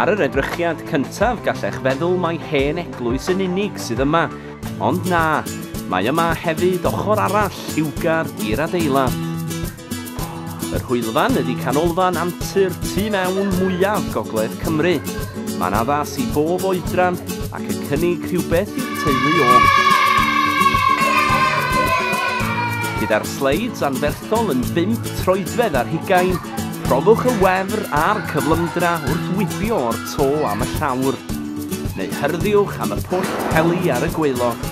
Ar yr edrychiad cyntaf gallech feddwl mai hen eglwys yn unig sydd yma, ond na, mae yma hefyd ochr arall lliwgar i'r adeilad. Yr hwylfan ydy canolfan antur tu mewn mwyaf gogledd Cymru. Mae'n addas i bob oedran Yn cynnig rhywbeth i'r teulu o. Gyda'r sleids anferthol yn bump troedfedd ar hugain, profwch y wefr a'r cyflymdra wrth wibio o'r to am y llawr, neu hyrddiwch am y pwll peli ar y gwaelod.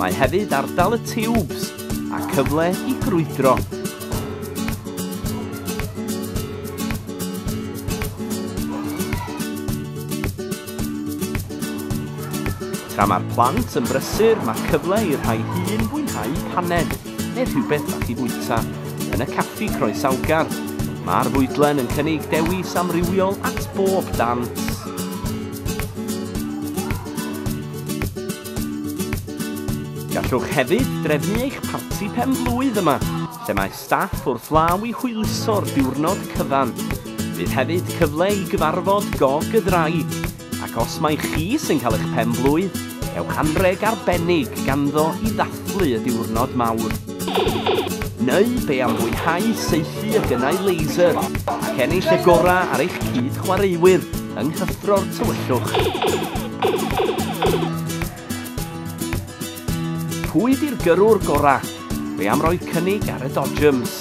Mae hefyd ardal y tiwbs a cyfle i grwydro. Tra mae'r plant yn brysur, mae cyfle i'r rhai hŷn fwynhau paned neu rhywbeth fach i fwyta yn y caffi croesawgar. Mae'r fwydlen yn cynnig dewis amrywiol at bob dant. Gallwch hefyd drefnu eich parti pen-blwydd yma, lle mae staff wrth law i hwyluso'r diwrnod cyfan. Bydd hefyd cyfle i gyfarfod gog y ddraig, ac os mai chi sy'n cael eich pen-blwydd, cewch anrheg arbennig ganddo i ddathlu y diwrnod mawr. Neu be am fwynhau saethu y gynnau laser ac ennill y gorau ar eich cyd-chwaraewyr yng nghyffro'r tywyllwch. Pwy di'r gyrrwr gora? Fe am roi cynnig ar y Dodgems.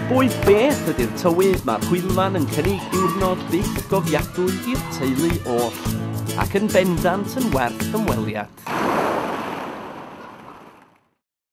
Bwy beth ydy'r tywydd mae'r hwylman yn cynnig diwrnod byth gofiadwy i'r teulu oll, ac yn bendant yn werth ymweliad.